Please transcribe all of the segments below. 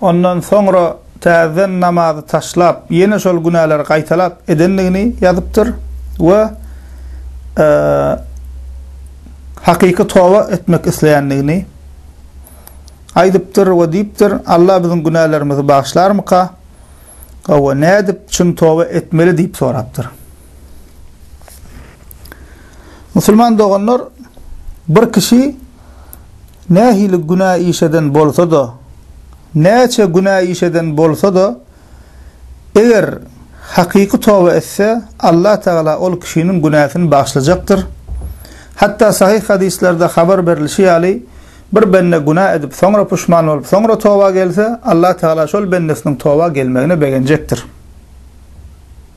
Ondan soňra täzeden namazy taşlap, ýene şol günäleri gaýtalap edendigini ýazypdyr we hakyky toba etmek isleýändigini aýdypdyr we diýipdir, Alla biziň günälerimizi bagyşlarmyka we nädip çyn toba etmeli diýip sorapdyr. Musulman doganlar, bir kişi Nähili günä iş eden bolsa-da, näçe günä iş eden bolsa-da, eger hakyky toba etse, Allah Tagala ol kişiniň günäsini bagyşlajakdyr. Hatda sahyh hadyslarda habar berlişi ýaly, bir bende günä edip, soňra puşman bolup, soňra toba gelse, Allah Tagala şol bendesiniň toba gelmegine begenjekdir.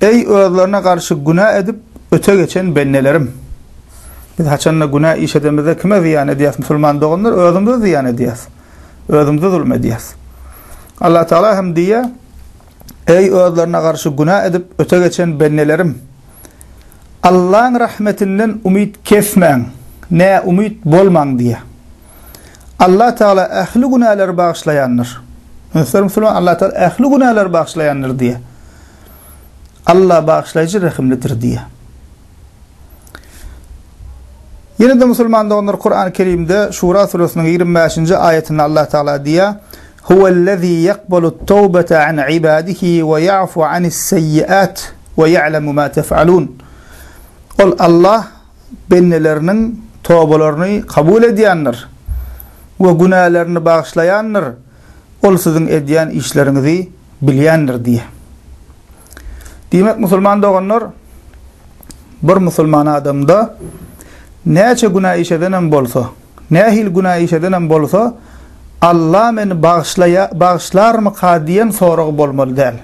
Eý, özlerine garşy günä edip öte geçen bendelerim! Biz haçan-da günä iş edemizde kime zyýan edýäs, musulman doganlar? Özümize zyýan edýäs. Özümize zulum edýäs. Allah Tagala hem diýýär, Eý, özlerine garşy günä edip öte geçen bendelerim! Allaň rahmetinden umyt kesmäň, näumyt bolmaň diýýär. Allah Tagala ähli günäleri bagyşlaýandyr. Muhterem musulman, Allah Tagala ähli günäleri bagyşlaýandyr diýýär. Alla bagyşlaýjy rehimlidir diýýär. Ýene-de musulman doganlar Kurany Kerimde Şura suresiniň ýigrimi bäşinji aýatynda Allah Tagala diýýär, Huwellezî ýakbalut tawbata an ibadihi we ýafu anis seýyiat we ýa'lemu ma tef'alun. Ol Allah bendeleriniň tobalaryny kabul edýändir we günälerini bagyşlaýandyr. Ol siziň edýän işleriňizi bilýändir diýýär. Diýmek, musulman doganlar, bir musulman adamda näçe günä iş edenem bolsa, nähili günä iş edenem bolsa, Alla meni bagyşlarmyka diýen soragy bolmaly däl.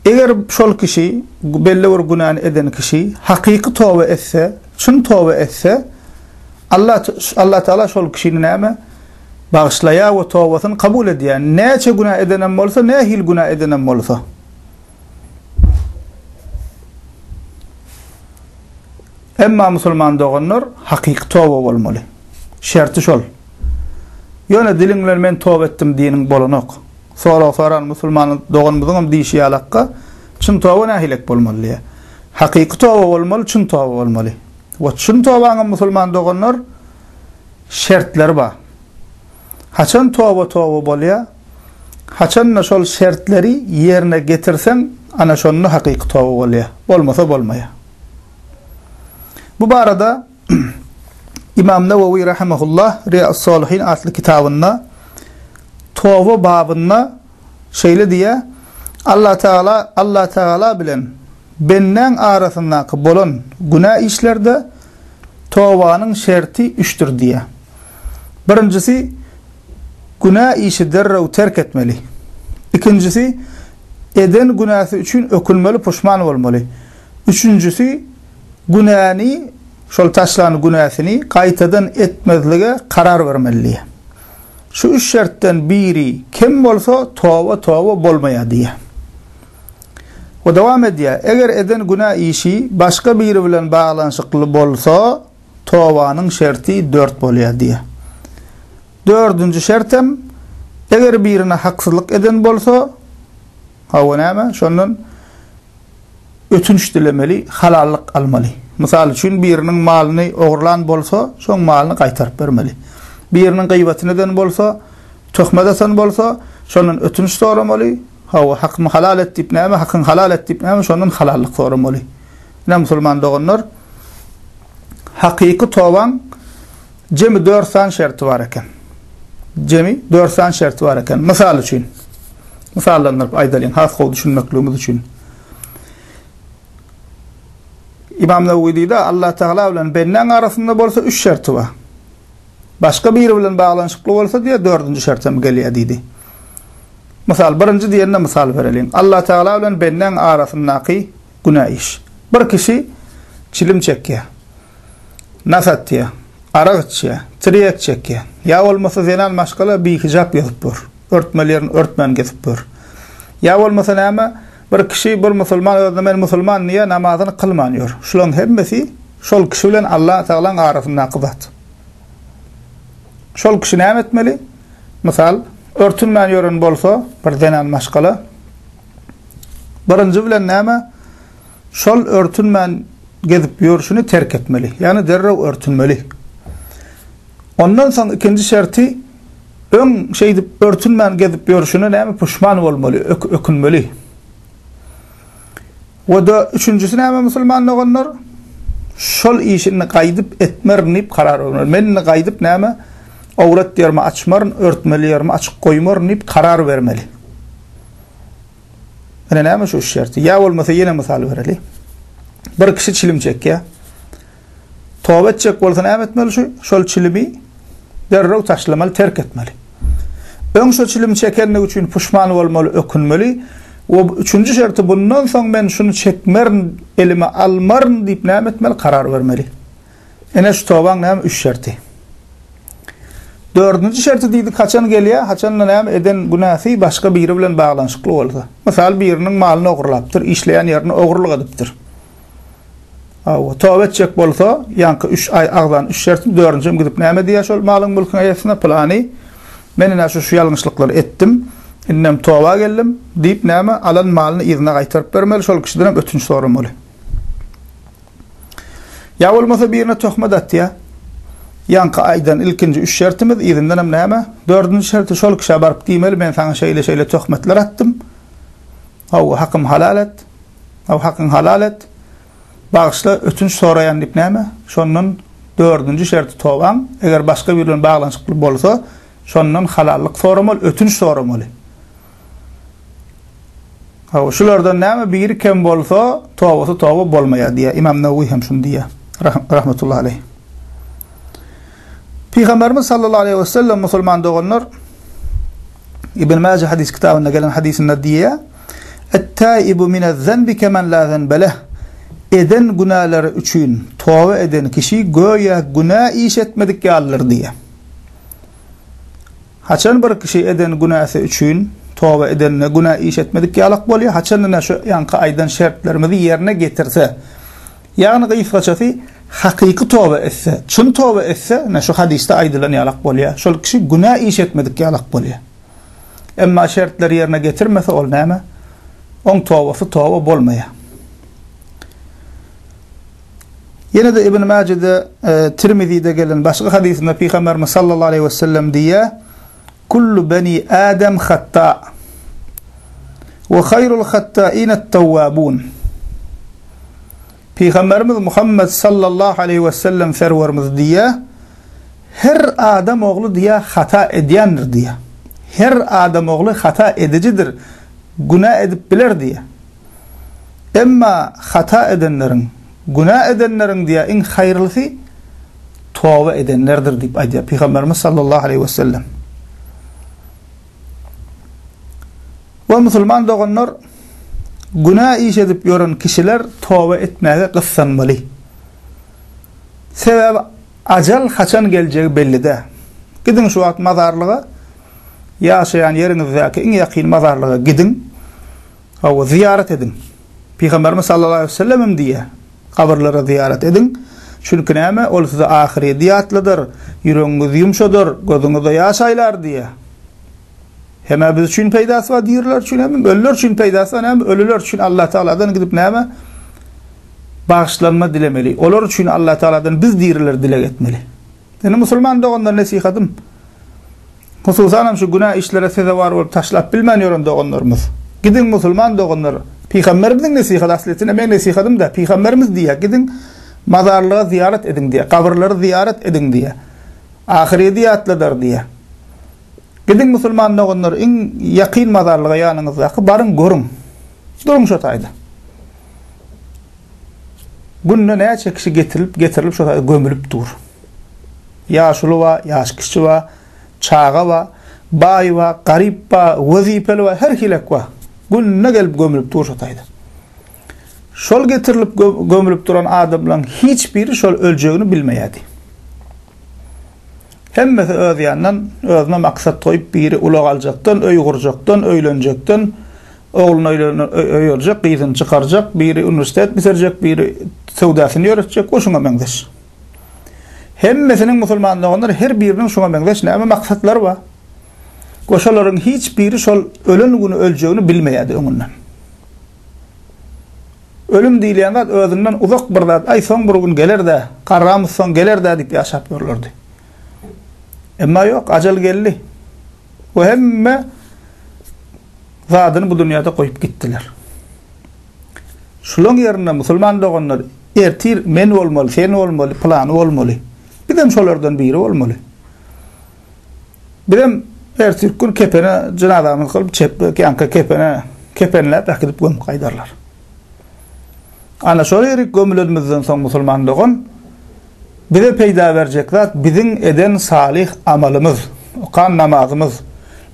Eger şol kişi, belli bir günäni eden kişi hakyky toba etse, çyn toba etse, Allatagala şol kişini näme? bagyşlaýar we tobasyny kabul edýär. Näçe günä edenem bolsa, nähili günä edenem bolsa. Emma musulman doganlar hakyky toba bolmaly. Şerti şol. Ýöne diliň bilen men toba etdim diýeniň bolanok. Sorag soran musulman doganymyzyňam diýşi ýalakka, çyn toba nähilek bolmaly diýýär. Hakyky toba bolmaly, çyn toba bolmaly. We çyn tobaňam musulman doganlar, şertleri bar. Haçan toba-toba bolýar, haçan-da şol şertleri ýerine getirseň, ana şonda hakyky toba bolýar, bolmasa bolmaýar. Bu barada Ymam Nawawi rahimehullah Riýaus-Solihin atly kitabynda toba babynda şeýle diýýär, Allah Tagala Allah Tagala bilen bendäň arasyndaky bolan günä işlerde Tobanyň şerti üçdir diýýär. Birinjisi, günä işi derrew terk etmeli. Ikinjisi, eden günäsi üçin ökünmeli, puşman bolmaly. Üçünjisi, günäni, şol taşlan günäsini gaýtadan etmezlige karar bermeli diýýär. Şu üç şertden biri kem bolsa, toba toba bolmaýar diýýär. We dowam edýär, Eger eden günä işi başga biri bilen baglanyşykly bolsa, tobanyň şerti dört bolýar diýýär. Dördünji şert hem, Eger birine haksyzlyk eden bolsa, hawa näme, şondan ötünç dilemeli, halallyk almaly. Mysal üçin, biriniň malyny ogurlan bolsa, şoň malyny gaýtaryp bermeli. Biriniň gyýbatyny eden bolsa, Töhmet atan bolsa, şondan ötünç soramaly, Hawa, hakymy halal et diýip näme, hakyňy halal et diýip näme, şondan halallyk soramaly. Ine, musulman doganlar, hakyky tobaň jemi dört sany şerti bar eken. Jemi dört sany şerti bar eken. Mysal üçin, mysallandyryp aýdalyň, has gowy düşünmekligimiz üçin. İmam Newewi diýdi, Allah Taala bilen bendeň arasynda bolsa üç şerti bar. Başga biri bilen baglanyşykly bolsa diýýär, dördünji şert hem gelýär diýdi. Mysal, birinji diýende mysal bereliň. Allatagala bilen bendäň arasyndaky günä iş. Bir kişi çilim çekýär, nas atýar, arak içýär, tirýek çekýär. Ýa bolmasa zenan maşgala bihijap gezip ýör, örtmeli ýerini örtmän gezip ýör. Ýa bolmasa näme, bir kişi, bir musulman özüne men musulman diýýär, namazyny kylman ýör. Şularyň hemmesi şol kişi bilen Allatagalaň arasyndaky zat. Şol kişi näme etmeli? Mysal, örtünmän ýören bolsa, bir zenan maşgala, birinji bilen näme? Şol örtünmän gezip ýörşüni terk etmeli. Ýagny derrew örtünmeli. Ondan soň ikinji şerti öň şeýdip örtünmän gezip ýörşüne näme puşman bolmaly, ökünmeli. We-de üçünjisi näme musulman doganlar? Şol işi indi gaýdyp etmerin diýip karar bermeli. Men indi gaýdyp näme owrat ýerimi açmaryn, örtmeli ýerimi açyk goýmaryn diýip karar bermeli. Ine näme şu üç şerti. Ýa bolmasa ýene mysal bereli. Bir kişi çilim çekýär. Toba etjek bolsa näme etmeli şu, şol çilimi derrew taşlamaly, terk etmeli. Öň şo çilimi çekenligi üçin puşman bolmaly, ökünmeli we üçünji şerti bundan soň men şuny çekmerin, elime almaryn diýip näme etmeli, karar bermeli. Ene şu tobaň näme üç şerti. Dördünji şerti diýdi, haçan gelýär, haçan-da näme eden günäsi başga biri bilen baglanyşykly bolsa. Mysal biriniň malyny ogurlapdyr, işleýän ýerini ogurlyk edipdir. Hawa, toba etjek bolsa, ýaňky üç aý agzany üşşersin, dördünji hem gidip näme diýer şol malyň-mülküň eýesine, Pylany, men ine şu-şu ýalňyşlyklary etdim, indem toba geldim diýip, näme, alan malyny yzyna gaýtaryp bermeli, şol kişidenem ötünç soramaly. Ýa bolmasa birine töhmet atýar, Ýaňky aýdan ilkinji üç şertimiz, yzyndanam näme, dördünji şerti şol kişä baryp diýmeli, men saňa şeýle-şeýle töhmetler atdym, How, hakym halal et! How, hakyň halal et! Bagyşla, ötünç soraýan diýip näme? Şondan dördünji şerti tobaň, eger başga biri bilen baglanyşykly bolsa, şondan halallyk soramaly, ötünç soramaly. How, şulardan näme biri kem bolsa, tobasy toba bolmaýar diýýär. Ymam Nawawi hem şuny diýýär, rahmetullahi aleýh. Pygamberimiz sallallahu aleýhi we sellem musulman doganlar Ibn Maje hadis kitabynda gelen hadisinde diýýär, Et-taibu minez-zenbi kemen la zenbe leh. Eden günäleri üçin toba eden kişi göýä günä iş etmedik ýalydyr diýýär. Haçan bir kişi eden günäsi üçin toba edende günä iş etmedik ýalak bolýar, haçan ine şu ýaňky aýdan şertlerimizi ýerine getirse, ýagny gysgaçasy hakyky toba etse, çyn toba etse ine şu hadysda aýdylan ýalak bolýar, şol kişi günä iş etmedik ýalak bolýar. Emma şertleri ýerine getirmese ol näme? Oň tobasy toba bolmaýar. Ýene-de Ibn Mäjede, Tirmizide gelen başga hadysynda Pygamberimiz sallallahu aleýhi wesellem diýýär, Kullu beni Adam hatta, we haýrul hattainat-tawwabun. Pygamberimiz Muhammet sallallahu aleýhi wesellem Serwerimiz diýýär, Her adam ogly diýýär hata edýändir diýýär. Her adam ogly hata edijidir, günä edip biler diýýär. Emma hata edenleriň, günä edenleriň diýýär, iň haýyrlysy toba edenlerdir diýip aýdýar Pygamberimiz sallallahu aleýhi wesellem. We musulman doganlar, günä iş edip ýören kişiler toba etmäge gyssanmaly. Sebäbi ajal haçan geljegi belli däl. Gidiň şu wagt mazarlyga, ýaşaýan ýeriňizdäki iň ýakyn mazarlyga gidiň. Hawa, zyýarat ediň. Pygamberimiz sallallahu aleýhi we sellem hem diýýär, Gabyrlara zyýarat ediň, çünki näme, ol size ahyrýeti ýatladar, ýüregiňizi ýumşadar, gözüňize ýaş aýlar diýýär. Hem-ä biz üçin peýdasy bar, diriler üçin hem, hem ölüler üçin peýdasy bar, näme, ölüler üçin Allah tagaladan gidip näme, bagyşlanma dilemeli. Olar üçin Allah tagaladan biz diriler dileg etmeli. Indi musulman doganlar nesihatym, hususanam şu günä işlere sezewar bolup taşlap bilmän ýören doganlarymyz, gidiň musulman doganlar, pygamberimiziň nesihaty aslyýetinde meň nesihatymda pygamberimiz diýýär, gidiň mazarlyga zyýarat ediň diýýär, gabyrlary zyýarat ediň diýýär, ahyrýeti ýatladar diýýär. Gidiň musulman doganlar iň ýakyn mazarlyga ýanyňyzdaky baryň görüň. Duruň şo taýda. Günde näçe kişi getirilip, getirilip şo taýda gömülip dur. Ýaşuly ba, ýaş kişi ba, çaga ba, baý ba, garyp ba, wezipeli ba, her hilek ba. Günde gelip gömülip dur şo taýda. Şol getirilip gömülip duran adamlaryň hiç biri şol öljegini bilmeýärdi. Hemmesi öz ýanyndan özüne maksat goýup biri ulag aljakdan, öý gurjakdan, öýlenjekden, Ogluny öýerjek, gyzyny çykarjak, biri uniwersitet bitirjek, biri söwdasyny ýöretjek we şuňa meňzeş. Hemmesiniň musulman doganlar her biriniň şuňa meňzeş näme maksatlary bar. We şolaryň hiç biri şol ölen güni öljegini bilmeýärdi öňünden. Ölüm diýilýän zat özünden uzak bir zat, aý soň bir gün geler-dä, garramyz soň geler-dä diýip ýaşap ýörlerdi. Emma ýok, ajal geldi. we hemme zadyny bu dünýäde goýup gitdiler. Şulaň ýerine musulman doganlar ertir men bolmaly, sen bolmaly, pylany bolmaly. Biz hem şolardan biri bolmaly. Biz hem ertirki gün kepene jenazamyzy kylyp çepbe känki kepene kepenläp äkidip gömüp gaýdarlar. Ana şol ýerik gömülenimizden soň musulman dogan Bize peýda berjek zat biziň eden salyh amalymyz, okan namazymyz,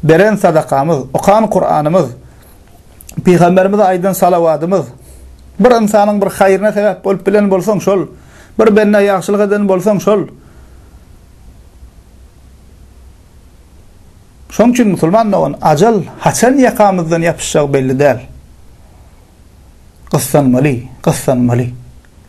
beren sadakamyz, okan Kuranymyz, pygamberimize aýdan salawadymyz. Bir ynsanyň bir haýryna sebäp bolup bilen bolsaň şol, bir bendä ýagşylyk eden bolsaň şol. Şoň üçin musulman dogan, ajal haçan ýakamyzdan ýapyşjagy belli däl. Gyssanmaly, gyssanmaly.